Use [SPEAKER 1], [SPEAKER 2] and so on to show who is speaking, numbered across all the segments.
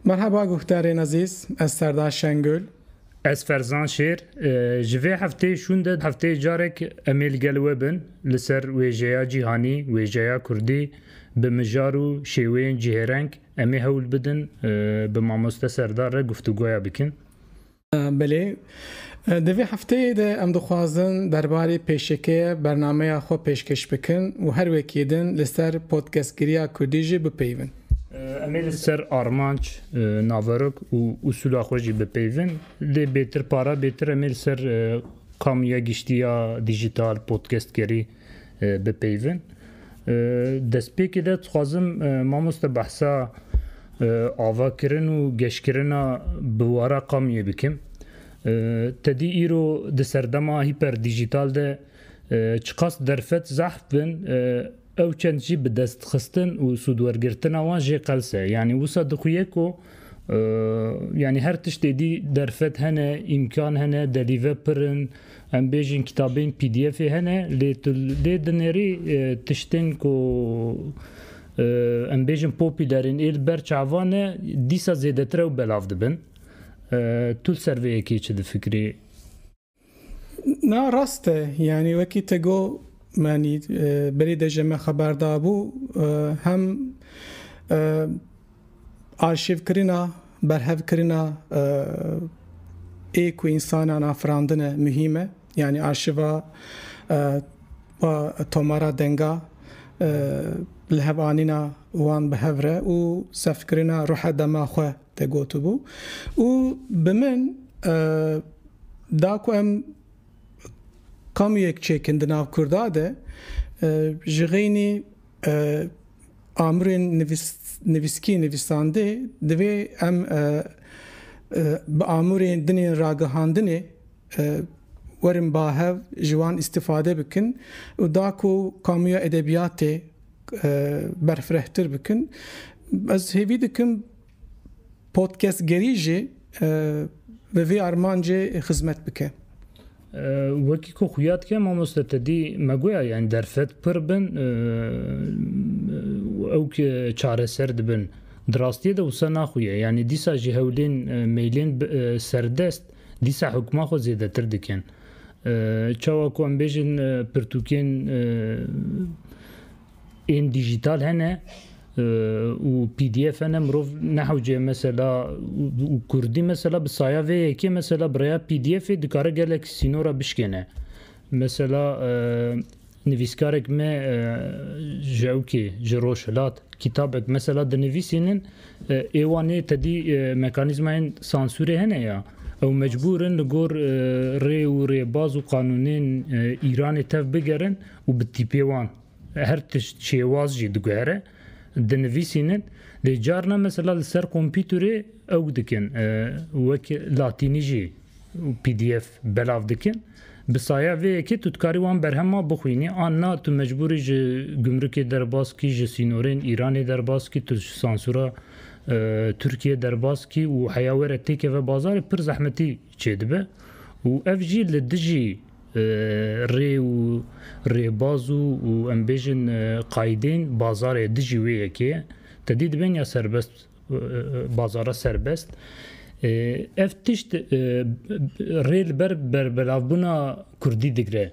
[SPEAKER 1] Merheba guhdarên ezîz, ez Serdar Şengul. Ez Ferzan Şêr. Ji vê hefteyê şûn de hefteyê carek em ê li gel we bin li ser wêjeya cîhanî, wêjeya kurdî bi mijar û şêweyên cihêreng. Em ê hewl bidin bi mamoste Serdar re guftugoya bikin. Belê, di vê hefteyê de em dixwazin derbarê pêşekeyê bernameya xwe pêşkêş bikin û her wekî din li ser podcastgiriya kurdî jî bipeyivin. Em ê li ser armanc, naverok û usûla xwe jî bipeyivin. Lê bêtir para bêtir em ê li ser kamîya giştî ya dîjîtal, podcastgerî, bipeyivin. Destpêkê de dixwazim mamoste behsa avakirin û geşkirina biwara qamiyê bikim. Tedî îro di serdema hîper dîjîtal de çiqas derfet zehf bin ew çend jî bi destxistin û sûdwergirtina wan jê qels e. Yanî wisa dixuye ku yanî her tiştê dî derfet hene, îmkan hene, delîve pir in. Em bêjin kitabên PDFê hene lê tu dê dinêrî tiştên ku em bêjin popüler in ê li ber çavan e dîsa zêdetir ew belav dibin. Tu li ser vê yekê çi difikirî? Na rast e. Yanî wekî te got yanî berî de jî me xeber dabû hem Arşîvkirina, berhevkirina ê ku însanan afirandine muhîm e. Yanî arşîva va tomara denga li hev anîna wan bi hev re û sefkirina ruhe dema xwe tê gotibû û bi min da ku em kamûyek çêkin di nav Kurda de ji xeynî Amûrên nivîskî nivîsandê divê em bi amûrên din ên ragihandinê werin ba hev ji wan îstîfade bikin û da ku kamuya edebiyatê berfirehtir bikin. Ez hêvî dikim Podcastgerî jî bi vî armancê xizmet bike. Wekî ku xuya dike mamoste te dî me goya yanî derfet pir bin ew ki çareser dibin. Di rastiyê de wisa naxuye. Yanî dîsa jî hewlên meylên serdest dîsa hukma xwe zêdetir dikin. Çawa ku em bêjin pirtûkên Ên dijîtal hene û pdf hene mirov nehewce mesela û kurdî mesela bi saya vê yekê mesela bi rêya pdfê dikare gelek sînora bişkêne. Mesela nivîskarek me ji ewkê ji Rojhilat kîtabek mesela dinivîsînin ê wan ê tedî mekanîzmayên sansûrê hene ya ew mecbûr in li gor rê û rêbaz û qanûnên Îranê tev bigerin û bi tîpê wan her tişt şêwaz jî diguhere, dinivîsînin, lê carna mesela li ser kompîturê ew dikin wek latînî jî pdf belav dikin. Bi saya vê yekê tu dikarî wan berhema bixwînî an na tu mecbûrî ji gumrukê derbas kî, ji sînorên Îranê derbas kî, tu ji sansûra Tirkiyê derbas kî û heya were têkeve bazarê pir zehmetî çêdibe û ev jî li dijî rê û rêbaz û em bêjin qayîdên bazarê dijî wê yekê ye. Tedî dibên ya serbest bazara serbest. Ev tişt rê li ber berbelavbûna kurdî digre.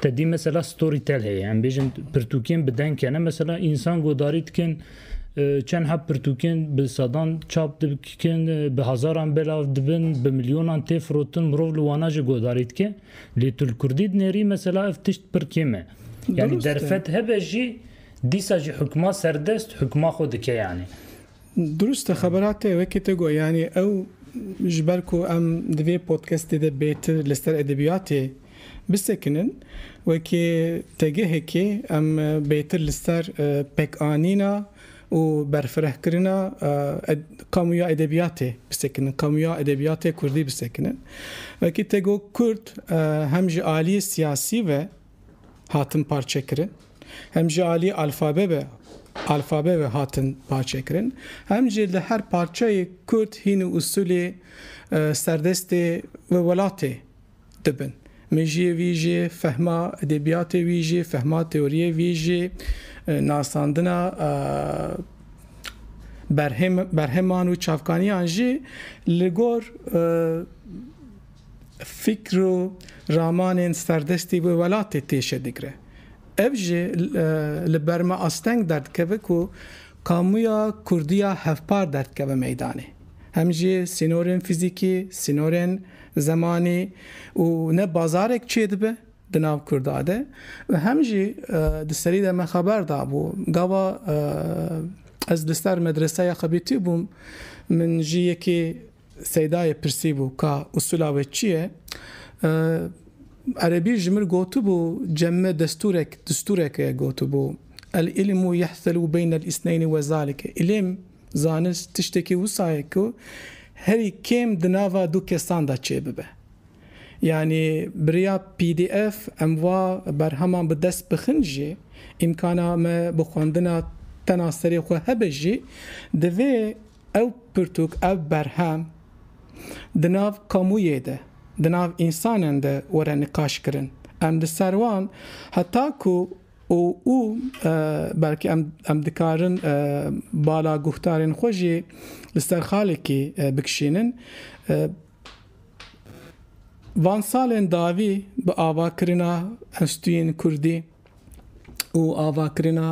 [SPEAKER 1] Te dî mesela story tel heye em bêjin pirtûkên bi deng kene mesela însan godarî dikin çend heb pirtûkên bi sedan çap dikin bi hezaran belav dibin bi milyonan tê firotin mirov li wana jî godarî dike lê tu li kurdî dinêrî mesela ev tişt pir kêm e yanî derfet hebe jî dîsa jî hikma serdest hikma xwe dike yanî Durust e xebera te wekî te got yanî ew ji ber ku em di vê podkestê de bêtir li ser edebiyatê bisekinin wekî tegehekê em bêtir li ser pekanîna û berfirehkirina kamuya edebiyatê bisekinin kamuya edebiyatê kurdî bisekinin wekî te got kurd hem ji aliyê siyasî ve hatin parçekirin, hem ji aliyê alfabe ve alfabe ve hatin parçekirin, hem jî li her parçeyê Kurd hîn û usulê serdestê wê welatê dibin. Mejiyê wî jî, fehma edebiyatê wî jî, fehma teoriyê wî jî, nasandina berheman û çavkaniyan jî li gor Fîkr û ramanên serdestî wê welatê têşe digre. Ev jî li ber me asteng derdikeve ku kamuya Kurdiya hevpar derdikeve meydanê. Hem jî sînorên fîzîkî, sînorên zemanî û ne bazarek çêdibe di nav Kurda de û hem jî di serî de me xeber dabû gava ez li ser medreseya xebitî bûm min jî yekê Seydayê pirsîbû ka usûla wê çi ye? Erebî ji min gotibû cemme destûrek, distûrek e gotibû, El îlmû yehselû beynel îsneynî we zalike, îlm, zanist, tiştekî wisa ye ku herî kêm di nava du kesan de çê bibe. Yanî bi riya pdf em va berheman bi dest bixin jî, îmkana me bi xwendina tena serê xwe hebe jî, divê Ew pirtûk, ev berhem di nav kamûyê de, di nav însanen de were niqaş kirin. Em li ser wan heta ku û û belkî em em dikarin bala guhdarên xwe jî li ser xalekî bikişînin. Van salên dawî bi avakirina enstîtuyên kurdî, û avakirina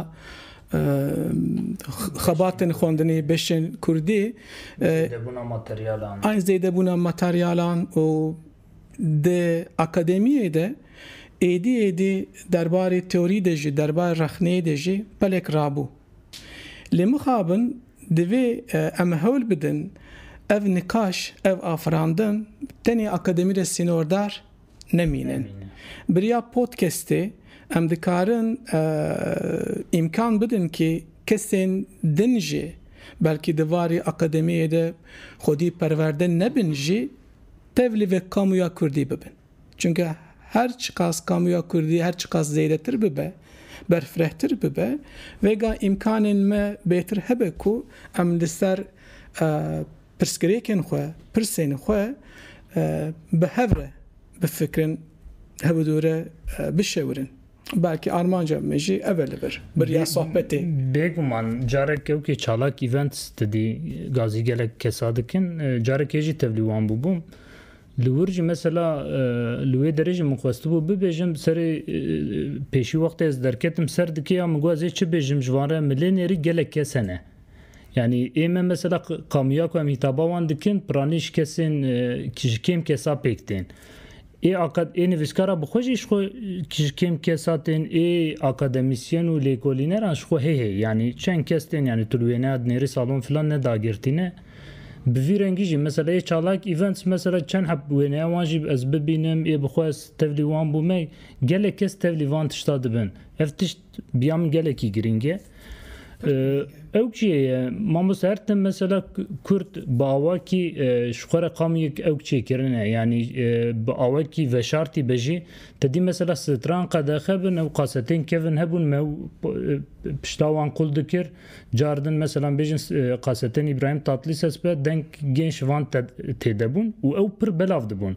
[SPEAKER 1] xebatên xwendinê beşên kurdî an zêdebûna materyalan û di akademiyê de êdî êdî derbarê teorî de jî derbarê rexneyê de jî pelek rabû. Lê mixabin divê em hewl bidin ev nikaş, ev afirandin tenê akademî de sînordar nemînin. Biriya podcastê em dikarin îmkan bidin kî kesên din jî belkî di varî akademiyê de xwedî perwerde nebin jî tev li vê kamuya kurdî bibin. Çunke her çiqas kamuya kurdî her çiqas zêdetir bibe, berfirehtir bibe vêga îmkanên me bêtir hebe ku em li ser Pirsgirêkên xwe, pirsên xwe bi hev re bifikirin, hevdûre bişewirin. Belkî armanca me jî ev e li vir. Biriya sohbetê. Bêguman carek kewkê çalak events didî gazî gelek kesa dikin. Carekê jî tevlî wan bûbûm. Li wir jî mesela li wê derê jî min xwestibû bibêjim serê pêşî wextê ez derketim ser dikê ya min got ez ê çi bêjim ji van re milê nêrî gelek kes hene. Yanî ê me mesela qamiya ku em hîtaba wan dikin piranî ji kesên ji kêm kesa pêk tên. Ê akad ê nivîskara bi xwe jî ji xwe ji kêm kesa tên ê akademîsyen û lêkolîneran ji xwe hê hê yanî çend kes tên yanî tu li wê neya dinêrî salon filan ne dagirtî ne. Bi vî rengî jî mesela ê çalak events mesela çend heb wêneya wan jî ez bibînim ê bi xwe ez tevlî wan bûme gelek kes tevlî van tişta dibin. Ev tişt biya min gelekî girîng e. Ew kê ye? Mamoste her tim mesela Kurd bi awakî ji xwe re qamiyek ew çêkirine yanî bi awakî veşartî be jî te dî mesela stran qedexe bin ew qasetên kevin hebûn me pişta wan qul dikir car din mesela bêjin qasetên Îbrahîm Tatlîses be deng gên ji van têdebûn û ew pir belav dibûn.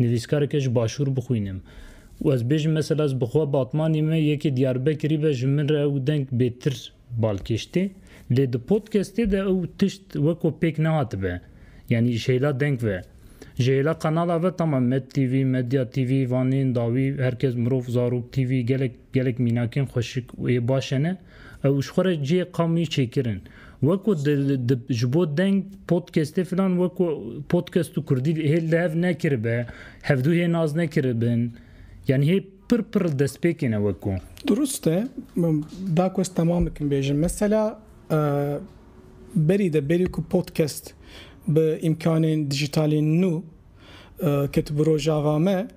[SPEAKER 1] Nivîskareke ji Başûr bixwînim û ez bêjim mesela ez bi xwe Batmanî me yekê Diyarbekirî be ji min re ew deng bêtir balkêş tê lê di podcastê de ew tişt weko pêk nehatibe yanî ji hêla deng ve ji hêla qenala ve tamam Medtv, Medya TV, Vanên dawî, Herkes Mirov, Zarok TV gelek gelek mînakên xweşik û ê baş e ne. Ew ji xwe re cihê qamiyê çêkirin. Weko di di ji bo deng podcastê filan weko podcast û kurdî hê li hev nekiribe, hevdû hê nas nekiribin. Yani hê pir pir destpêkê ne weko. Durust e. Da ku ez temam bikim bêjim. Mesela berî de berî ku podcast bi îmkanên dijîtalên nû ket bi rojava me,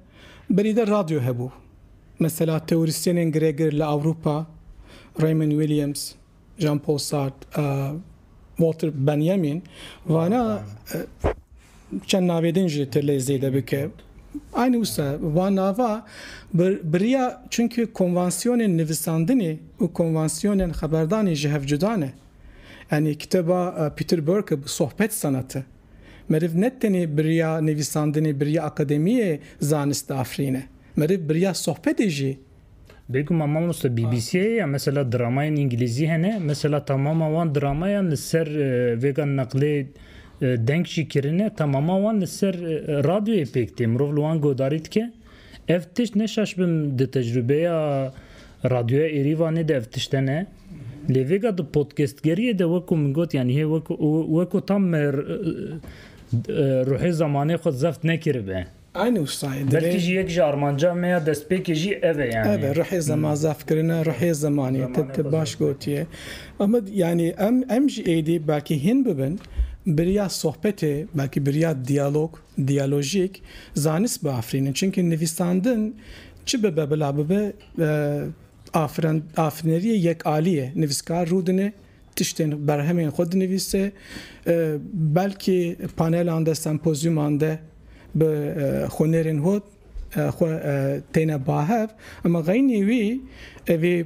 [SPEAKER 1] berî de radyo hebû. Mesela teorîsyenên giregir li Ewropa Raymond Williams, Jean-Paul Sartre, Walter Benjamin vana çend navê din jî tu lê zêde bike. Aynî wisa van nava biriya çunki konvansiyonên nivisandinê û konvansiyonên xeberdanê ji hev cuda ne. Yanî kitêba Peter Burke bi sohbet sanatı. Meriv ne tenê biriya nivîsandinê biriya akademiyê zanist diafirîne. Meriv biriya sohbetê jî. Bêguma mamoste BBC'ê ya mesela dramayên îngilîzî hene mesela tamama wan dramayan li ser vêga neqlê deng jî kirine tamama wan li ser radyoyê pêk tê mirov li wan guhdarî dike. Ev tişt ne şaş bim di tecrûbeya radyoya Êrîvanê de ev tişt hene. Lê vêga di podcastgeriyê de wek ku min got yanî hê wek wek ku tam me ruhê zemanê xwe zeft nekiribe. Aynî wisa ye. Belkî jî yek ji armanca me ya destpêkê jî ev e yanî. Ev e ruhê zema zefkirina ruhê zemanê. Te te baş gotiye. Ama yanî em em jî êdî belkî hîn bibin biriya sohbetê belkî biriya diyalog Diyalojîk, zanist biafirînin çimkî nivîsandin çi bibe bila bibe afirinderiyê yekalî ye. Nivîskar rûdine tiştên berhemên xwe dinivîse, belkî panelan de, sempozyûman de bi xwinêrên hot xwe têne bahev. Ema xeynî wî, vê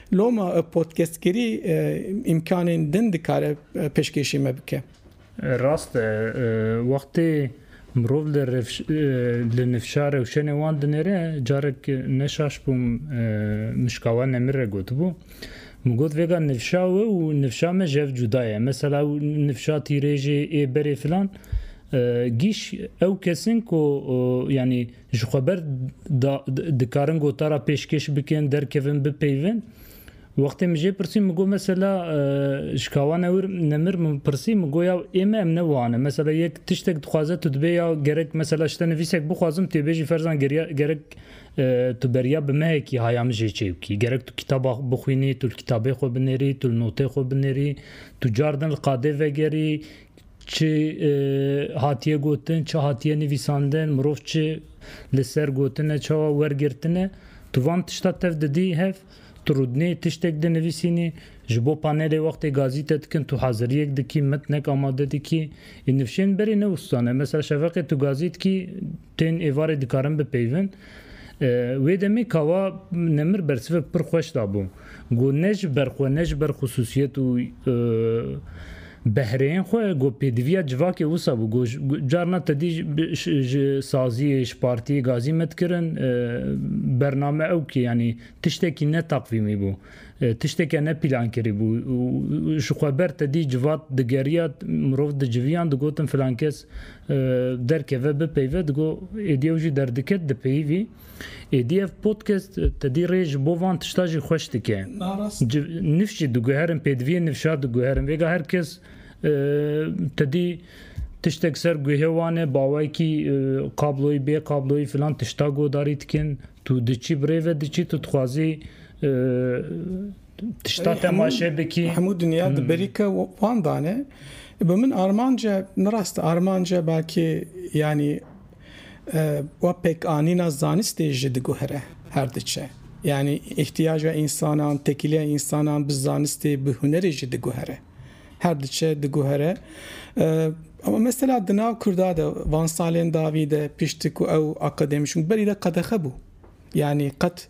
[SPEAKER 1] Loma podcastkirî îmkanên din dikare pêşkêşî me bike. Rast e, wextê mirov li nifşa rewşenê wan dinêre, carek ne şaş bûm Mişkawa Nemir re gotibû, min got vêga nifşa we û nifşa me jev cuda ye. Mesela ew nifşa tîrêjê ê berê filan, gîş ew kesin ku yanî, ji xwe ber da dikarin gotara pêşkêş bikin derkevin bipeyvin Wextê min jê pirsî min got mesela ji kawa newir nemir min pirsî min got ya ême em ne wane mesela yek tiştek dixwaze tu dibê ya gerek mesela ji te nivîsek bixwazim tu bêjî ferzan gerek tu beriya bi mehekî haya min jê çê bikî gerek tu kitaba bixwînî tu kitabê xwe binêrî tu notê xwe binêrî tu cardin li qadê vegerî Çi hatiye gotin, çi hatiye nivîsandin, mirov çi li ser gotine, çawa wergirtine, tu van tişta tev didî hev, tu rûdinê tiştek dinivîsînî, ji bo panelê wextê gazîte dikin tu haziriyek dikî, mitnek amade dikî. Ê nifşên berê ne wistan e. Mesela şeveqê tu gazî dikî tên êvarê dikarin bipeyvin. Wê demê kawa Nemir bersivek pir xweş dabû. Got ne ji ber xwe ne ji ber xusûsiyet û behreyên xwe got pêdiviya civakê wisa bû. Got carna te dî ji saziyê, ji partiyê gazî me dikirin bername ew ki yanî tiştekî ne taqvîmî bû. Tişteke ne pîlan kirîbû û ji xwe ber tedî civat digeriya mirov diciviyan digotin filan kes derkeve bipeyve digo êdî ew jî derdiket dipeyivî êdî ev podcast tedî rê ji bo van tişta jî xweş dike nifş jî diguherin pêdiviyê nifşa diguherin vêga her kes tedî tiştek ser guhê wan e bawekî kabloyî bê kabloyî filan tişta godarî dikin. Tu diçî birê ve diçî tu dixwazî tişta temaşe bikî. Hemû dinya di berî ke wan dane. Bi min armanca min rast armanca belkî yanî we pêkanîna zanistê jî diguhere her diçe. Yanî îhtiyaca însanan, tekîliya însanan bi zanistê bi hunerê jî diguhere. Her diçe diguhere. Ama mesela di nav Kurda de van salên davî de piştî ku ew akademîşûn berî de qedexe bû. Yanî qet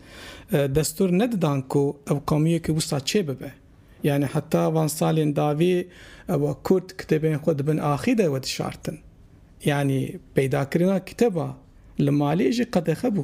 [SPEAKER 1] destur nedidan ku ew qewmiyekî wisa çê bibe. Yanî heta van salên davî ew Kurd kitêbên xwe di bin axî de wedişartin. Yanî peydakirina kitêba li malê jî qedexe bû.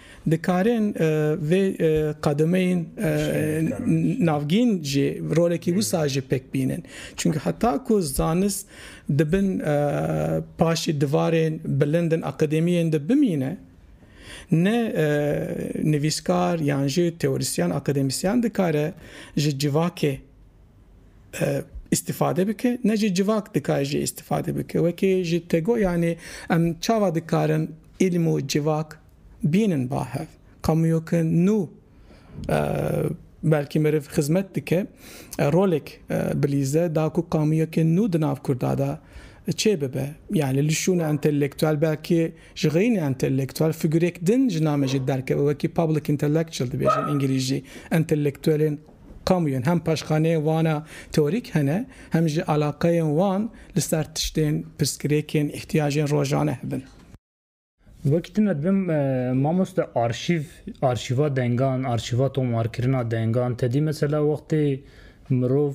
[SPEAKER 1] Dikarin vê qedemeyên navgîn jî rolekî wisa jî pêk bînin. Çunke heta ku zanist di bin paşê divarên bilind in akademiyên de bimîne, ne nivîskar yan jî teorîsyen, akademisyen dikare ji civakê îstîfade bike, ne jî civak dikare jê îstîfade bike. Wekî ji Tego yanî em çawa dikarin îlim û civak Bînin ba hev kamuyoke nû belkî meriv xizmet dike rolek bilîze da ku kamuyoke nû di nav Kurda de çê bibe. Yanî li şûna entelektuel belkî ji xeyînê entelektuel figurek din ji namê jî derkeve wekî public intellectual dibêjin îngilîzcî. Entelektuelên kamuyan hem paşxaneyên wana teorîk hene hem jî alaqeyên wan li ser tiştên pirsgirêkên îhtiyacên rojane hebin. Wekî tu me dibim mamoste arşîv, arşîva dengan, arşîva tomarkirina dengan tedî mesela wextê mirov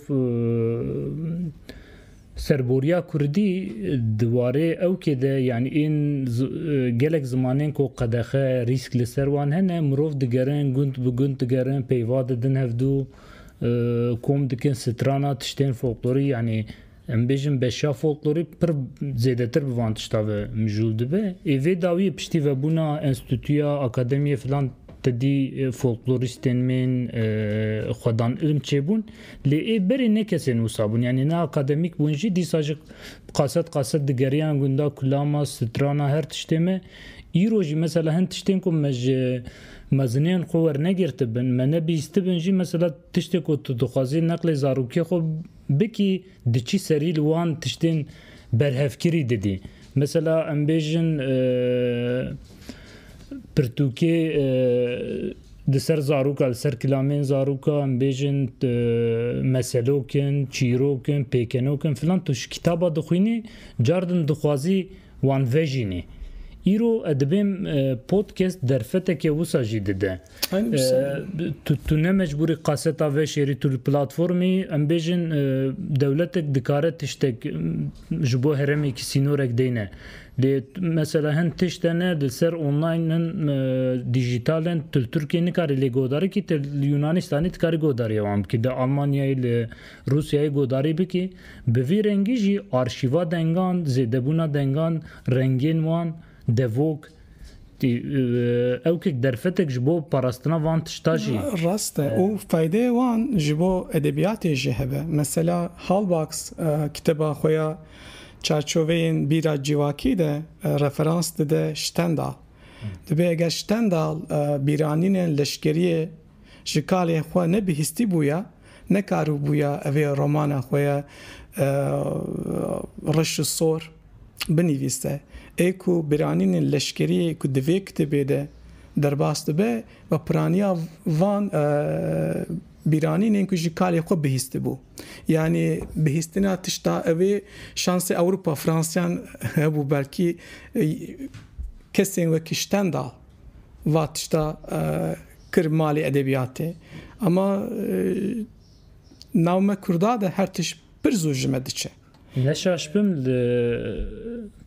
[SPEAKER 1] serboriya kurdî di warê ewkê de yanî ên gelek zimanên ku qedexe rîsk li ser wan hene mirov digerin gund bi gund digerin peyva didin hevdû kom dikin strana tiştên folklorî yanî Em bêjin beşa folklorî pir zêdetir bi van tişta ve mijûl dibe. Ê vê dawiyê piştî vebûna enstîtuya, akademiyê filan tedî folklorîstên mên xwedan ilm çêbûn. Lê ê berê ne kesên wisa bûn. Yanî ne akademîk bûn jî dîsa ji qaset qaset digeriyan gunda, kulama, strana her tiştê me. Îro jî mesela hin tiştên ku me ji mezineyên xwe wernegirtibin, me nebîstibin jî mesela tiştê ku tu dixwazî neqlê zarokê xwe Bikî diçî serî li wan tiştên berhevkirî didî. Mesela em bêjin pirtûkê di ser zaroka, li ser kilamên zaroka em bêjin meselok in, çîrok in, pêkenok in filan tu ji kitaba dixwînî car din dixwazî wan vejînî. Îro edibêm podcast derfeteke wisa jî dide. Tu ne mecbûrî qaseta veşêrî tu li platformî em bêjin e, dewletek dikare tiştek ji bo herêmekî sînorek deyne. Lê mesela hin tişt hene li ser online hin e, dijîtal in tu li Tirkiyeyê nikarî lê godarî kî tu li Yunanistanê dikarî godarî wan bikî li Almanyayê li Rûsyayê godarî bikî. Bi vî rengî jî arşîva dengan, zêdebûna dengan, rengên wan, devok, Ewkik derfetek ji bo parastina van tişta jî. Rast e û faydeyê wan ji bo edebiyatê jî hebe. Mesela Halbach kiteba xwe ya Çarçoveyên bîra civakî de referans dide Stendhal. Dibe eger Stendhal bîranînên leşkeriyê ji kalên xwe ne bihîstî bûya, nekaribûya evê romana xwe ya Reş û Sor binivîste. Ê ku biranînên leşkeriyê ku di vê kitêbê de derbas dibe bi piraniya van bîranînên ku ji kalê xwe bihîstî bû. Yanî bihîstina tişta evê şansê Ewropa, Fransiyan hebû belkî kesên wekî Stendal. Va tişta kir malê edebiyatê. Ama nav me kurda de her tişt pir zû ji me diçe. Neşaş bim li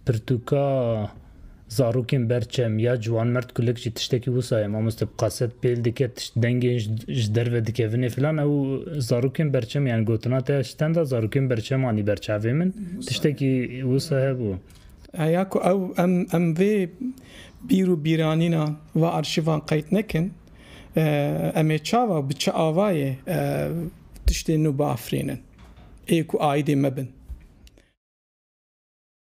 [SPEAKER 1] pirtûka zarokên ber çem ya ciwanmerd kulik jî tiştekî wisa ye. Mamoste bi kaset pêl dike, tişt dengên ji derve dikevinê filan. Ew zarokên berçem yan gotina te ji tenda zarokên berçemanî ber çavê min tiştekî wisa hebû. Heya ku ew em em vê bîr û bîranîna va arşîvan qeyd nekin, em ê çawa û bi çi avayê tiştên nû biafirînin ê ku aîdê me bin.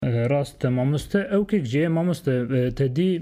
[SPEAKER 1] Rast e mamoste. Ewkek jî ye mamoste te dî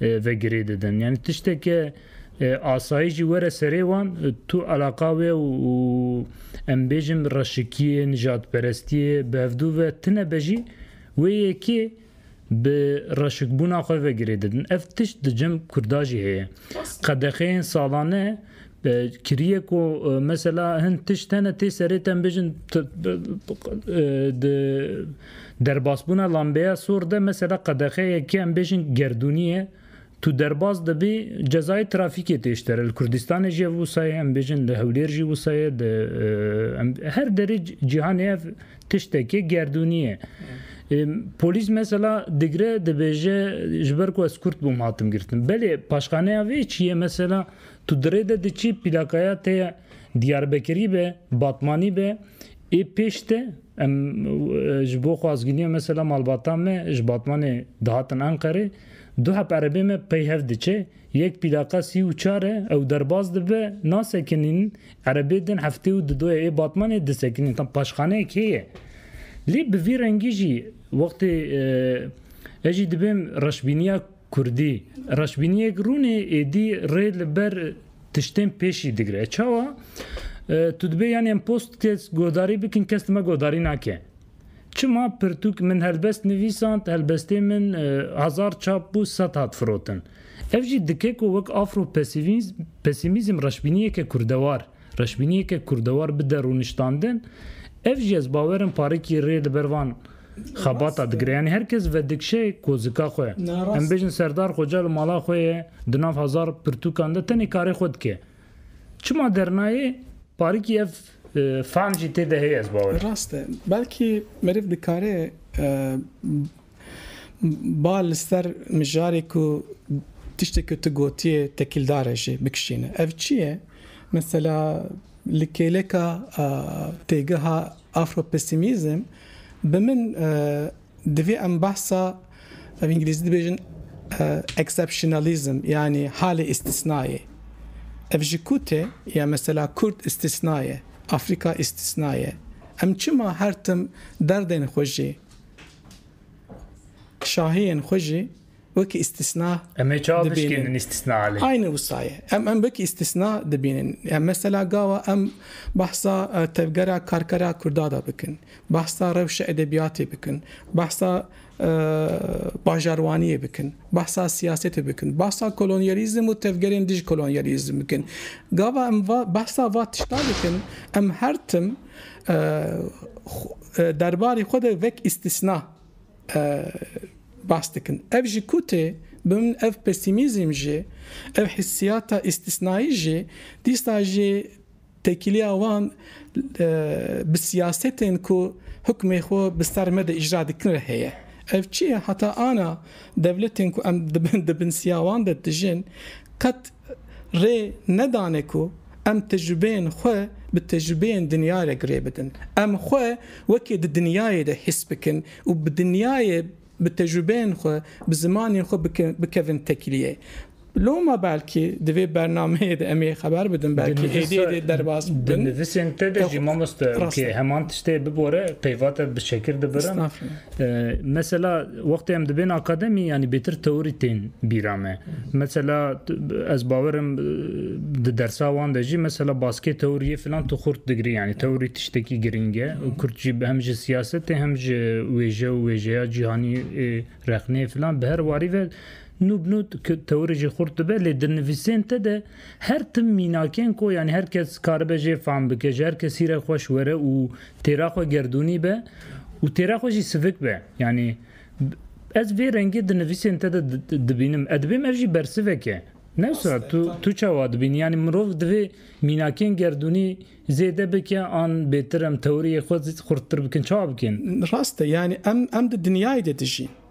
[SPEAKER 1] ve girê didin. Yanî tişteke asayî jî were serê wan tu eleqa wê û em bêjin reşikiyê, nijadperestiyê bi hevdû ve tine be jî wê yekê bi reşikbûna xwe ve girê didin. Ev tişt di cem Kurda jî heye. Qedexeyên salane Kiriyê ku mesela hin tişt hene tê serê tem bêjin di derbasbûna lambeya sor de mesela qedexe yekê em bêjin gerdûnî ye tu derbas dibî cezayê trafîkê tê ji te re. Li Kurdistanê jî ev wisa ye em bêjin li Hewlêr jî wisa ye di her derê cîhanê ev tiştekê gerdûnî ye. Polîs mesela digre dibêje ji ber ku ez Kurd bûm hatim girtin. Belê paşxaneya vê çi ye mesela Tu di rê de diçî plakaya te ya Diyarbekirî be, Batmanî be, ê pêş te em ji bo xwazgîniya mesela malbata me ji Batmanê dihatin Enqerê, du heb erebê me peyhev diçe, yek plaka sî û çar e, ew derbas dibe, nasekinîn, erebê din heftê û didoye ê Batmanê disekinîn. Tam paşxaneyek heye. Lê bi vî rengî jî wextê ez jî dibêm reşbîniya Kurdî, reşbîniyek rûnê êdî rê li ber tiştên pêşî digire. Çawa? Tu dibê yanî em post kes guhdarî bikin kes li me guhdarî nake. Çima pirtûk min helbest nivîsand, helbestê min hezar çap bû sed hat firotin. Ev jî dike ku wek afro-pesîmîzm reşbîniyeke kurdewar Reşbîniyeke kurdewar bide rûniştandin, ev jî ez bawer im parikî rê li ber van xebata digire. Yanî her kes vedikşe kozika xwe. Em bêjin Serdar Xoca li mala xwe ye, di nav hezar pirtûkan de tenê karê xwe dike. Çima dernayê parikî ev fehm jî tê de heye ez bawer im. Rast e. Belkî meriv dikare Ba li ser mijarê ku tiştê ku tu gotiyê tekîldar e jî bikişîne. Ev çi ye? Mesela li kêleka têgeha Afropesimîzm bi min divê em behsa bi îngilîzî dibêjin exceptionalism yanî halê îstîsnayê. Ev ji ku tê ya mesela Kurd îstîsna ye, Afrîka îstîsna ye. Em çima her tim derdên xwe jî. Şahiyên xwe jî wekî îstîsna Em ê çawa bişkînin îstîsnaa lê? Aynî wisa ye. Em em wekî îstîsna dibînin. Ya mesela gawa em behsa tevgera karkera Kurda de bikin, behsa rewşa edebiyatê bikin, behsa bajarwaniyê bikin, behsa siyasetê bikin, behsa kolonyalîzm û tevgerên dij kolonyalîzm bikin. Gava em va behsa va tiştan dikin em her tim derbarê xwe de vek îstîsna bas dikin. Ev ji ku tê, bi min ev pesîmîzm jî, ev hissiyata îstîsnayî jî, dîsa jî têkiliya wan bi siyasetên ku hukmê xwe bi ser me de îcra dikin re heye. Ev çi ye? Heta ana dewletên ku em di bin siya wan de dijîn, qet rê nedane ku em tecrûbeyên xwe bi tecrûbeyên dinyayê re girê bidin. Em xwe wekî di dinyayê de hîs bikin û bi dinyayê, bi tecrûbeyên xwe, bi zimanên xwe bikevin tekliyê. Loma belkî di vê bernameyê de em ê xeber bidin, belkî êdî êdî derbas bibin. Di nivîsên te de jî mamoste wekî heman tiştê bibore peyva te bi şekir dibirin. Mesela wextê em dibên akademî yanî bêtir teorî tên bîra me. Mesela ez bawer im di dersa wan de jî mesela baskê teoriyê filan tu xurt digirî yanî teorî tiştekî girîng e û Kurd jî hem ji siyasetê hem ji wêje û wêjeya cîhanî rexneyê filan bi her warî ve nû bi nû teorî jî xurt dibe lê di nivîsên te de Her tim mînakên ku yanî her kes karibe jê fam bike, ji her kesî re xweş were û têra xwe gerdûnî be û têra xwe jî sivik be. Yanî ez vê rengê di nivîsên te de dibînim. Ez dibêm ev jî bersivek e. Ne wisa tu tu çawa dibînî? Yanî mirov divê mînakên gerdûnî zêde bike an bêtir em tewriyê xwe xurttir bikin. Çawa bikin? Rast e. Yanî em em di dinyayê de dijîn.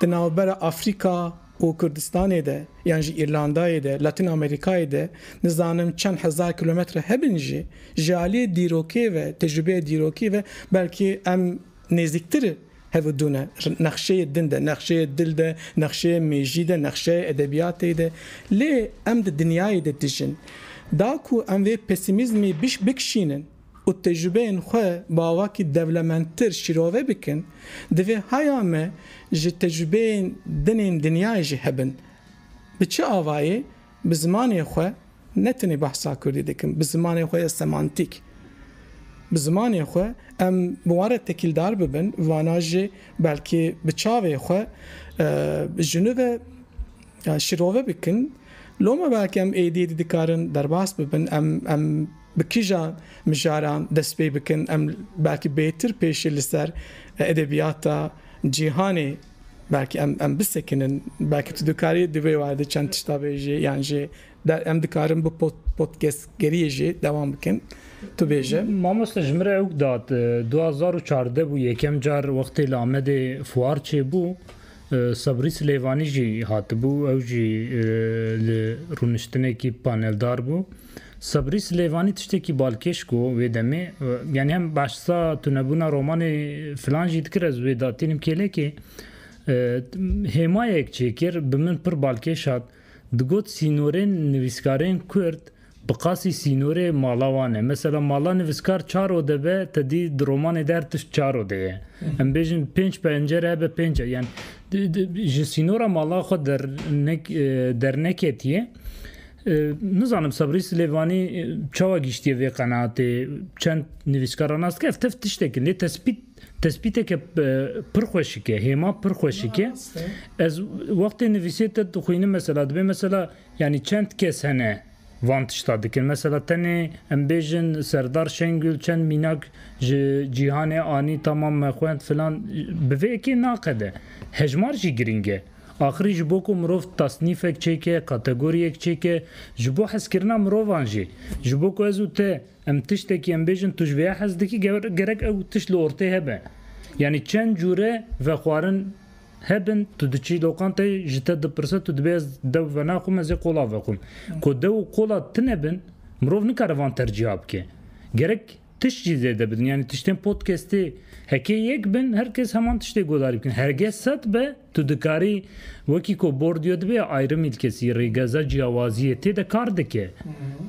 [SPEAKER 1] Di navbera Afrîka û Kurdistanê de yan jî Îrlandayê de, Latin Amerîkayê de nizanim çend hezar kîlometre hebin jî ji aliyê dîrokê ve, tecrûbeyê dîrokî ve belkî em nêzîktir hev û dû ne. Nexşeyê din de, nexşeyê dil de, nexşeyê mêjî de, nexşeyê edebiyatê de. Lê em di dinyayê de dijin. Da ku em vê pesîmîzmî bikişînin. û tecrûbeyên xwe bi avakî dewlemendtir şîrove bikin, divê haya me ji tecrûbeyên din ên dinyayê jî hebin. Bi çi avayê? Bi zimanê xwe, ne tenê behsa kurdî dikim, bi zimanê xwe ya semantîk. Bi zimanê xwe em bi wan re tekîldar bibin, vana jî belkî bi çavê xwe ji nû ve şîrove bikin. Loma belkî em êdî êdî dikarin derbas bibin, em, em. Bi kîjan mijaran dest pê bikin em belkî bêtir pêşî li ser edebiyata cîhanê belkî em em bisekinin. Belkî tu dikarî di vê werde çend tişta bêjî yan jî der em dikarin bi pod podcastgeriyê jî dewam bikin. Tu bêje. Mamoste ji min re ewk dat du hezar û çardeh bû yekem car wextê li Amedê fuar çêbû Sebrî Silêvanî jî hatibû ew jî li rûniştinekî paneldar bû. Sebrî Silêvanî tiştekî balkêş go wê demê yanî hem behsa tunebûna romanê filan jî dikir ez wê da tînim kêlekê hêmayek çêkir bi min pir balkêş hat digot sînorên nivîskarên kurd bi qasî sînorê mala wan e. Mesela mala nivîskar çar ode be tedî di romanê de her tişt çar ode ye. Em bêjin pênc pencere hebe pênc yan ji sînora mala xwe derneketiye. Nizanim Sebrî Silêvanî çawa gihîştiye vê qenaatê. Çend nivîskar ranas dike ev tev tiştek in. Lê tespît tespîteke pir xweşik e, hêma pir xweşik e. Ez wextê nivîsê te dixwînim mesela dibê mesela yanî çend kes hene van tişta dikin. Mesela tenê em bêjin Serdar Şengül çend mînak ji cîhanê anî tamam me xwend filan bi vê yekê naqede. Hejmar jî girîng e. Axirî ji bo ku mirov tasnîfek çêke, kategoriyek çêke, ji bo hezkirina mirovan jî, ji bo ku ez û te em tiştekî em bêjin tu ji vêya hez dikî gerek ew tişt li ortê hebe. Yanî çend cûre vexwarin hebin tu diçî lokanteyê ji te dipirse tu dibê ez dew venaxwim ez ê qola vexwim. Ku dew û qola tune bin mirov nikare van tercîha bike. Gerek tişt jî zêde bidin yanî tiştên podcastê heke yek bin her kes heman tiştê guhdarî bikin. Herge sed be, Tu dikarî wekî ku Bordiyo dibê ayrımî li kesî rêgeza ciyawaziyê tê de kar dike.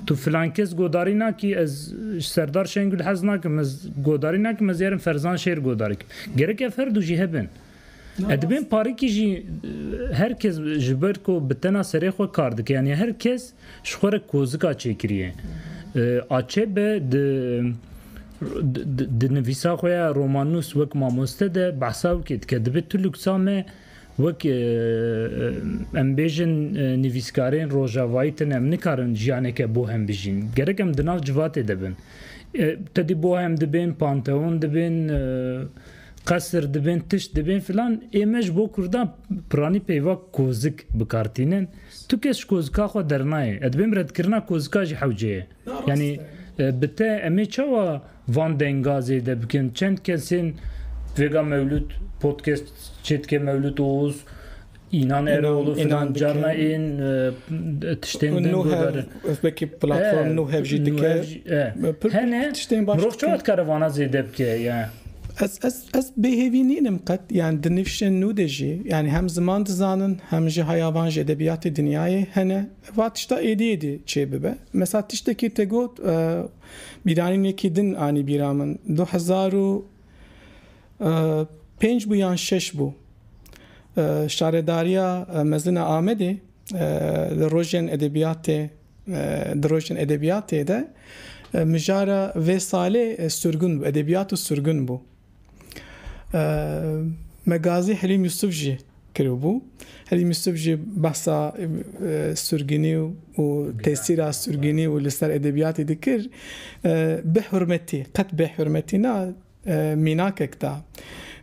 [SPEAKER 1] Tu filan kes godarî nakî ez ji Serdar Şengul hez nakim ez godarî nakim ez yarim Ferzan Şêr godarî kim. Gerek ev her du jî hebin. Ev dibên parikî jî her kes ji ber ku bi tena serê xwe kar dike yanî her kes Ji xwe re kozika çêkiriye. Açebe di di nivîsa xwe ya romannûs wek mamoste de behsa wekê dike. Dibe tu luksa me wek em bêjin nivîskarên rojavayî tune em nikarin jiyaneke bohem bijîn. Gerek em di nav civatê de bin. Tedî bohem dibên, panteon dibên, qesir dibên, tişt dibên filan ê me ji bo kurdan piranî peyva kozik bikar tînin. Tu kes ji kozika xwe dernayê. Ez dibêm redkirina kozika ji hewce ye. Yanî bi te em ê çawa van denga zêde bikin? Çend kesên vêga mewlûd podcast çê dike mewlûd oz înan erol û filan carna ên tiştên din guhdarin. Wekî platform nû hev jî dike. Hene mirov çawa dikare vana zêde bike? Ez Ez bêhêvî nînim qet, yan di nivşên nû de jî, yanî hem ziman dizanin, hem jî haya van ji edebiyatê dinyayê hene, va tişta êdî êdî çê bibe. Mesela tiştekî te got, bîranînekî din anî bîra min, du hezar û pênc bû yan şeş bû, Şaredariya Mezin a Amedê, Li rojên edebiyatê Di rojên edebiyatê de mijara vê salê surgun bû, edebiyat û surgun bû. Me gazî Hilîm Yusuf jî kiribû. Hilîm Yusuf jî behsa surgunî û tesîra surgunî û li ser edebiyatê dikir. Bê hurmetî, qet bê hurmetî na, Mînakek da.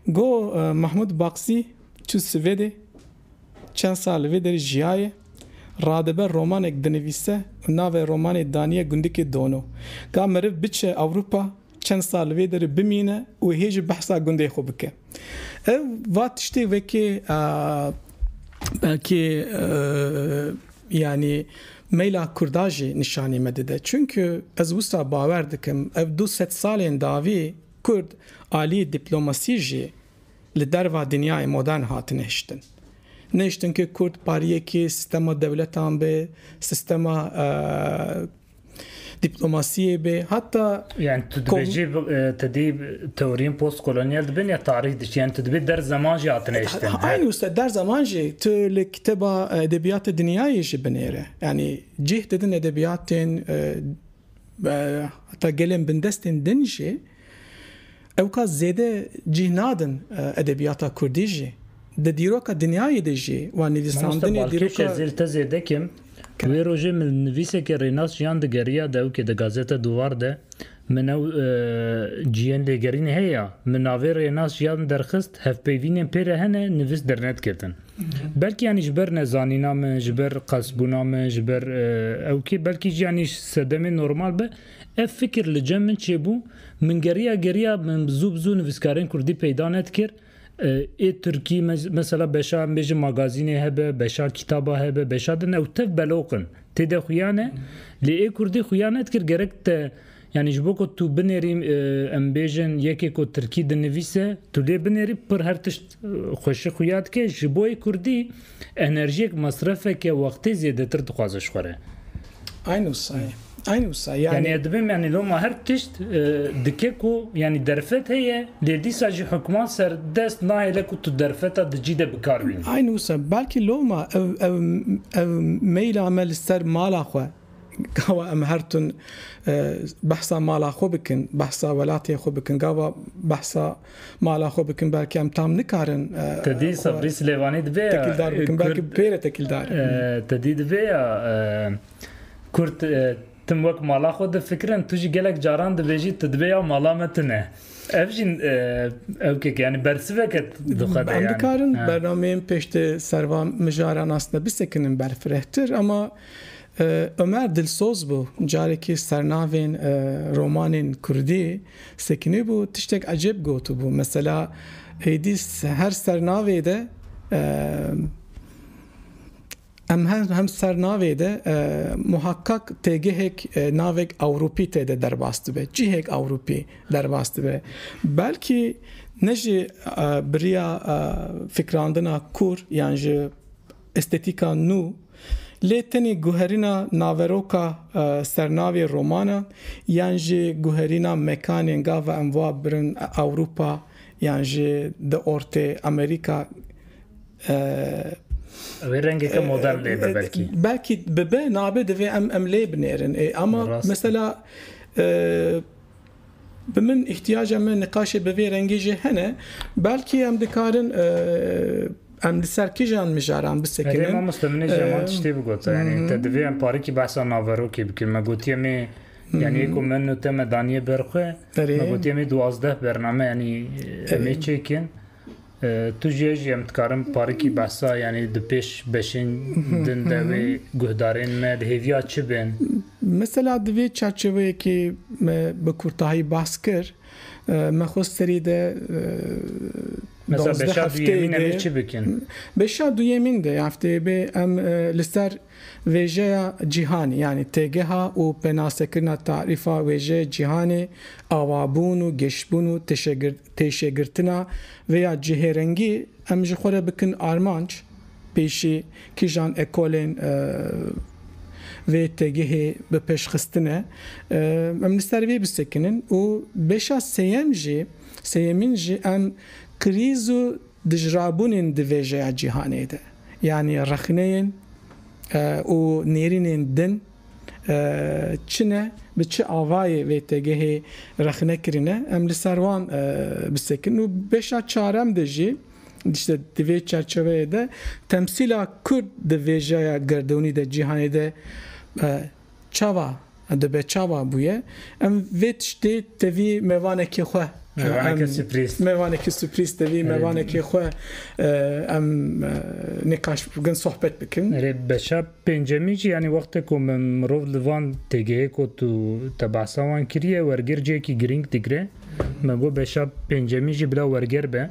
[SPEAKER 1] Got, Mahmud Baksî çû Swêdê, çend sal li vê derê jiyaye, radibe romanek dinivîse û navê romanê daniye Gundikê Dono. Ga meriv biçe Ewropa, çend sal li vê derê bimîne û hê jî behsa gundê xwe bike. Ev va tiştê wekê belkî yanî Meyla kurda jî nîşanî me dide. Çunku ez wisa bawer dikim ev du sed salên dawî kurd aliyê dîplomasî jî li derva dinyayê modern hatine hiştin. Nehiştin ke kurd pariyekî sistema dewletan be, sistema. Dîplomasiyê be heta. Yani tu dibê jî tu dî teoriyên postkolonyal dibin ya tarîh diçî yani tu dibê der zeman jî hatine hiştin. Eynî wisa der zeman jî tu li kitêba edebiyatê dinyayê jî binêre yani cih didin edebiyatên heta gelên bindestên din jî. Ew ka zêde cih nadin edebiyata kurdî jî, di dîroka dinyayê de jî wan nivîsandinê dîroka. Mamoste Balkêş ez îl te zêde kim. Wê rojê min nivîsekê Rênas Ciyan digeriya dewkê di gazeta Duvar de min ew ciyên lêgerînê heye ya min navê Rênas Ciyan derxist hevpeyvînên pê re hene nivîs dernet girtin. Belkî yanî ji ber nezanîna min, ji ber qelsbûna min, ji ber ew kê belkî jî yanî sedemê normal be. Ev fikir li cem min çêbû, min geriya geriya min bi zû bi zû nivîskarên kurdî peyda nedikir. Ê tirkî mesela beşa em bêjin magazînê hebe, beşa kîtaba hebe, beşa din ew tev beloq in. Tê de xuya ne. Lê ê kurdî xuya nedikir gerek te yanî ji bo ku tu binêrî em bêjin yekê ku tirkî dinivîse tu lê binêrî pir her tişt xweşik xuya dike. Ji bo ê kurdî Enerjiyek mesrefeke wextê zêdetir dixwaze ji xwe re. Eyn wisa ye. Eyn wisa ye. Yanî ez dibim yanî loma her tişt dike ku yanî derfet heye lê dîsa jî hukman serdest nahêle ku tu derfeta di cî de bi kar bînî. Eyn wisa ye. Belkî loma ev ev ev meyla me li ser mala xwe gava em her tim behsa mala xwe bikin, behsa welatê xwe bikin, gava behsa Mala xwe bikim belkî em tam nikarin. Te dî Sebrî Silêvanî divê ya tekîldar bikim belkî pê re tekîldar. Te dî divê ya Kurd tim wek mala xwe difikirin tu jî gelek caran dibêjî tu dibê ya mala me tune. Ev jî ewkek yanî bersiveke dixwe de. Em dikarin bernameyên pêştê servan mijara nasne bisekinin berfirehtir ema Omer Dilsoz bû, carekî sernavên romanên kurdî sekinîbû, tiştek ecêb gotibû, mesela êdî her sernavê de em hem sernavê de muheqeq têgehek navek ewropî tê de derbas dibe, cihek ewropî derbas dibe. Belkî ne jî bi riya fikrandina kûr yan ji. Estetîka nû, lê tenê guherîna naveroka sernavê romana yan jî guherîna mekanên gava em va birin Ewropa yan jî di ortê Amerîka e. Ew ê rengeke modern lê be belkî. Belkî bibe, nabe divê em em lê binêrin ê. Ama mesela Bi min îhtiyaca me niqaşê bi vê rengê jî hene. Belkî em dikarin em li ser kijan mijaran bisekinin. Erê mamoste min ê ji heman tiştê bigot. Yanî te divê em parikî behsa naverokê bikin. Me gotiye me yanî êko min û te me daniye ber xwe. Me gotiye me duwazdeh bername yanî em ê çêkin. Tu jî ez jî em dikarin parikî behsa yanî di pêş beşên din de wê guhdarên me di hêviya çi bên? Mesela di vê çerçeveyekê me bi kurtahî behs kir me xwe serî de Mesela beşa duyemîn em ê çi bikin? Beşa duyemîn de hefteyê bê em li ser vêjeya cîhanê yanî têgeha û penastekirina tarîfa wêjeyê cîhanê, awabûn û gêşbûn û Pêşegirtina vê ya cihêrengî em ji xwe re bikin armanc, pêşî kîjan ekolên vê têgihê bi pêş xistine em li ser vê bisekinin û beşa sêyem jî sêyemîn jî em krîz û dijrabûnên di vêjeya cîhanê de yanî rexneyên û nêrînên din Çi ne, bi çi avayê vê têgehê rexne kirine em li ser wan bi sekin û beşa çarem de jî dişte di vê çerçeveyê de temsîla Kurd di vêjeya gerdonî de cîhanê de çava di be çava bûye em vê tiştê tevî mevanekê xwe mevanekê suprîz tevî mevanekê xwe em nîqaş bikin sohbet bikin. Pêncemî jî yanî wextê ku mirov li van têgehê kot û te behsa wan kiriye, wergêr cihekî girîng digire. Me got beşa pêncemî jî bila wergêr be.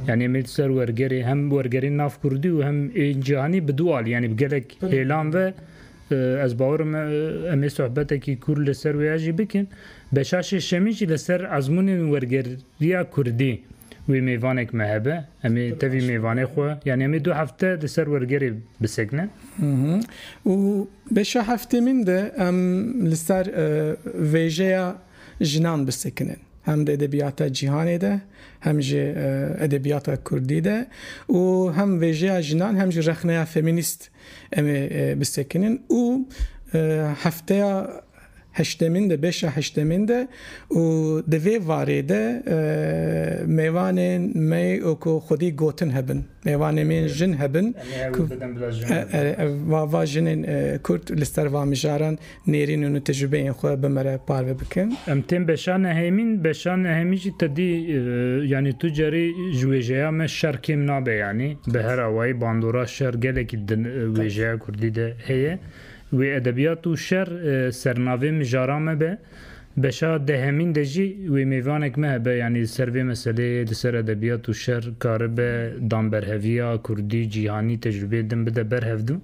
[SPEAKER 1] Yanî em ê li ser wergêrê hem wergerên nav kurdî û hem ên cihanî bi dû alî yanî bi gelek hêlan ve ez bawer im em ê sohbetekî kûr li ser wê ya jî bikin. Beşa şêşemî jî li ser ezmûnên wergêr Viya kurdî wê mêvanek me hebe, em ê tevî mêvanê xwe yanî em ê du hefte li ser wergerê bisekinin. Û beşa heftê min de em li ser vêjeya jinan bisekinin. Hem di edebiyata cîhanê de hem jî edebiyata kurdî de û hem vêjeya jinan hem jî rexneya femînîst em ê bisekinin û hefteya heştemîn de beşa heştemîn de û di vê varê de mêvanên me ku xwedî gotin hebin, mêvanê me yên jin hebin ku va jinên Kurd li ser va mijaran nêrînin û tecrûbeyên xwe bi me re parve bikin. Em tên beşa nehêmîn, beşa nehêmî jî tedî yanî tu carî ji wêjeya me şer kêm nabe yanî bi her awayî bandora şer gelekî di wêjeya Kurdî de heye. Wê edebiyat û şer sernavê mijara me be. Beşa dehemîn de jî wê mêvanek me hebe yanî li ser vê meseleyê li ser edebiyat û şer karibe danberheviya kurdî cîhanî tecrubeyê din bide ber hevdu.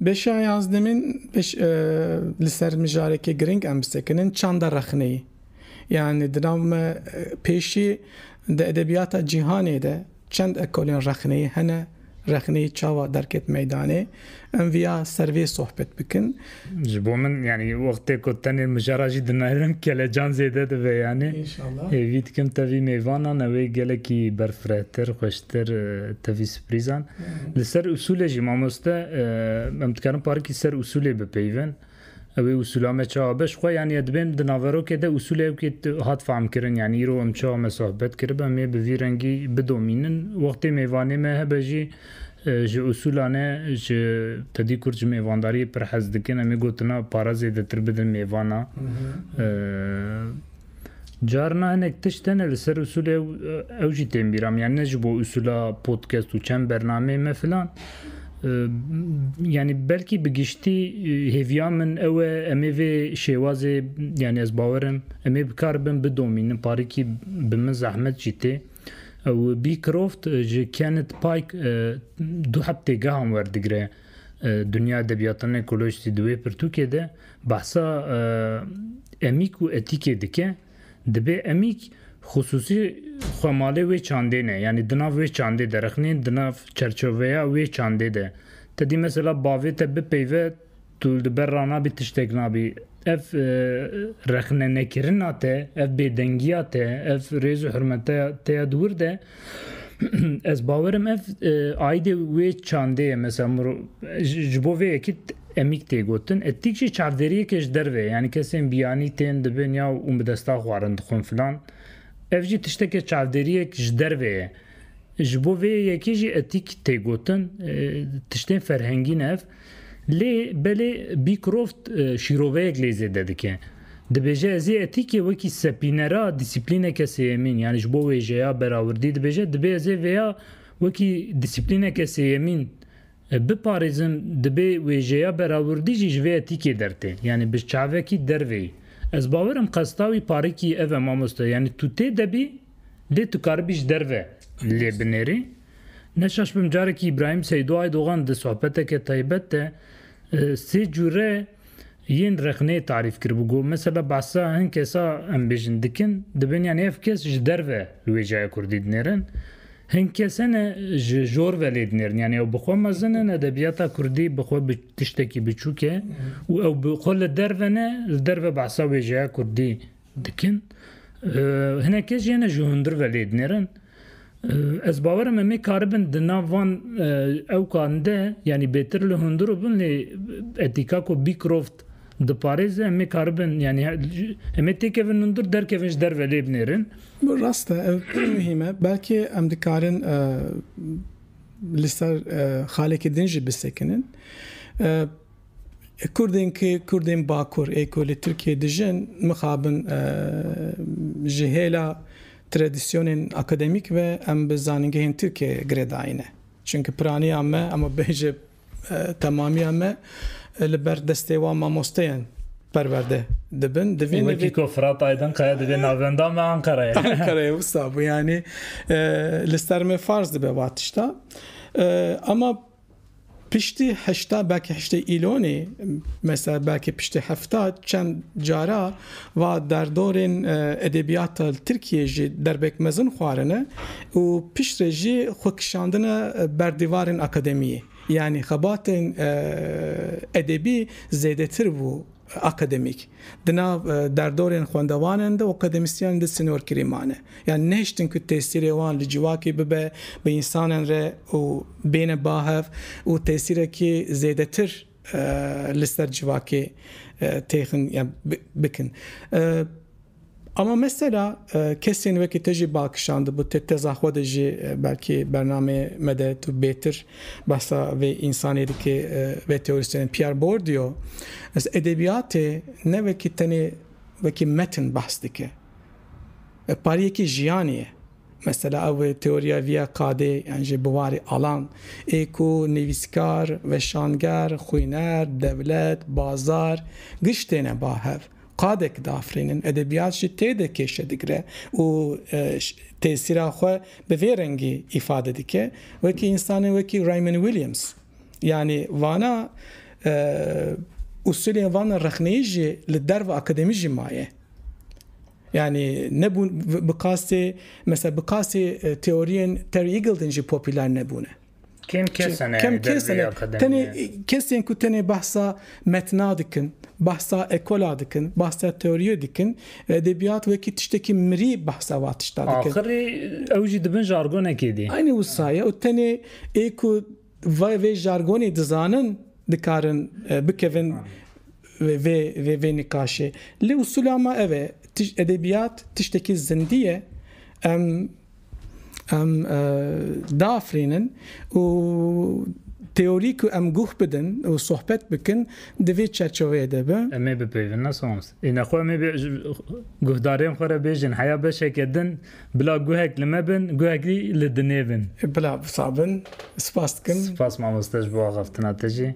[SPEAKER 1] Beşa yazdemîn li ser mijarekê giring em bisekinin çanda rexneyî. Yanî di nav me pêşî di edebiyata cîhanê de, Çend ekolên rexneyê hene, rexneyê çawa derket meydanê? Em viya ser vê sohbet bikin. Ji bo min yanî wextê ku tenê mijara jî dinayînim kelecan zêde dibe yanî. Înşallah. Hêvî dikim tevî mêvanan ew ê gelekî berfirehtir, xweştir tevî siprîzan. Li ser usûlê jî mamoste em dikarin parikî ser usûlê bipeyivin. Ew ê usûla me çawa be? Ji xwe yanî ez dibêm di naverokê de usûlewkê hat fehmkirin. Yanî îro em çawa me sohbet kirib em ê bi vî rengî bidomînin. Wextê mêvanê me hebe jî ji usûla ne ji tedî kurd ji mêvandariyê pir hez dikin. Em ê gotina pare zêdetir bidin mêvana. Carina hinek tişt hene li ser usulê ew ew jî tên bîra min. Yani ne ji bo usula podcast û çend bernameyê me filan. Yani belkî bi giştî hêviya min ew e em ê vê şêwazê yani ez bawerim em ê bikar bin bidomînin parîkî bi min zehmet jî tê. Ew Beecroft ji Kenneth Pike du heftê gehan werdigire Dünya Edebiyatının Ekolojisi di wê pirtûkê de Behsa emîk û etîkê dike, dibê emîk xisûsî xwe malê wê çandê ne, yanî di nav wê çandê de rexnê, di nav çerçoveya wê çandê de. Te dî mesela bavê te bipeyve tu li ber ra nabî tiştek nabî. Ev rexnenekirina te, ev bêdengiya te, ev rêz û hirmeteya te ya di wir de Ez bawer im ev aîdê wê çandê ye mesela miro ji bo vê yekî emîk tê gotin. Etîk jî çavderiyekê ji derve ye yanî kesên biyanî tên dibin ya û bi desta xwe arin dixwin filan. Ev jî tiştekê çavderiyek ji derve ye. Ji bo vê yekî jî etîk tê gotin. Tiştên ferhengî ne ev. Lê belê Beecroft şîroveyek lê zêde dike. Dibêje ezê etîkê wekî sepînera dîsîplîneke sêyemîn yanî ji bo wêjeya berawirdî dibêje dibê ezê vêya wekî dîsîplîneke sêyemîn biparêzim dibê wêjeya berawirdî jî ji vê etîkê dertê yanî bi çavekî derveyî. Ez bawer im qesta wî parikî ev e mamoste yanî tu tê de bî lê tu karibî ji derve lê binêrî. Neşaşbim carekî Îbrahîm Seydo Aydogan di sohbeteke taybet de sê cure yên rexneyê tarîf kiribû. Got, Mesela behsa hin kesa em bêjin dikin, dibin yanî ev kes ji derve li wêjaya kurdî dinêrin. Hin kes hene ji jor ve lê dinêrin. Yanî ew bi xwe mezin in, edebiyata kurdî bi xwe tiştekî biçûk e û ew bi xwe li derve ne, li derve behsa wêjaya kurdî dikin. Hinek kes jê ne ji hundir ve lê dinêrin. Ez bawer im em ê karibin di nav van ewkan de yanî bêtir li hundir û bin lê etika ku Beecroft diparêze em ê karibin yanî em ê têkevin hundir derkevin ji derve lê binêrin. Rast e ev pir muhîm e. Belkê em dikarin li ser xalekî din jî bisekinin. Kurdên ku Kurdên Bakur ê ku li Tirkiyeyê dijin mixabin ji hêla tradisyonên akademîk ve em bi zanîngehên Tirkiyeyê girêdayîne. Çimkî piraniya me em ê bêjin temamiya me li ber destê wan mamosteyan perwerde dibin. Divîn wekî ku Firat Aydinkaya divê navenda me Ankarayê. Ankarayê wisa bû yanî li ser me farz dibe va tişta. Ema Piştî heşta belkî heştê îlonê mesela belkî piştî hefta çend cara va derdorên edebiyata li Tirkiyeyê jî derbek mezin xwarine û piştre jî xwe kişandine ber dîvarên akademiyê. Yanî xebatên edebî zêdetir bû. Akademîk, di nav derdorên xwendevanan de û akademîsyenên de sînorkirî mane. Yan nehiştin ku tesîrê wan li civakê bibe, bi însanan re û bêne bahev û tesîrekî zêdetir li ser civakê têxin bikin. Ama mesela kesên wekî te jî bal kişandibû, te teza xwe de jî belkî bernameyê me de tu bêtir behsa vê însanê dikî, vê teorîstênê Pierre Bourdieu. Ez edebiyatê ne wekî tenê wekî metin behs dike. Ev pariyekî jiyanê ye. Mesela ew teoriya viya qadê yan jî bi warê alan ê ku nivîskar, weşanger, xwîner, dewlet, bazar, giş têne ba hev. Qadek diafirînin, edebiyat jî tê de kêşe digire û tesîra xwe bi vê rengî îfade dike. Wekî însanên wekî Raymond Williams yanî vana usulên vana rexneyî jî li derva akademî jî maye. Yanî nebûn bi qasê mesela bi qasê teoriyên Terry Eagleton jî popüler nebûne. Kêm kes hene Kêm kes dervê hene. Tenê akademiye. kesên ku tenê behsa metna dikin, behsa ekola dikin, behsa teoriyê dikin, edebiyat wekî tiştekî mirî behsa va tişta dikin. Axirî ew jî dibin jargonekê dî. Aynî wisa ye û tenê ê ku vay vê jargonê dizanin dikarin e, bikevin vê vê vê vê nîqaşê. Lê usula me ev e, tiş- edebiyat tiştekî zindî ye. Em Em diafirînin û teorî ku em guh bidin û sohbet bikin di vê çerçeveyê de be. Em ê bipeyivin ne sons. Îne xwe em ê bê ji guhdarên xwe re bêjin heya beşeke din bila guhek li me bin guhekî li dinê bin. Bila wisa bin. Spas dikim. Spas mamoste ji bo axaftina te jî.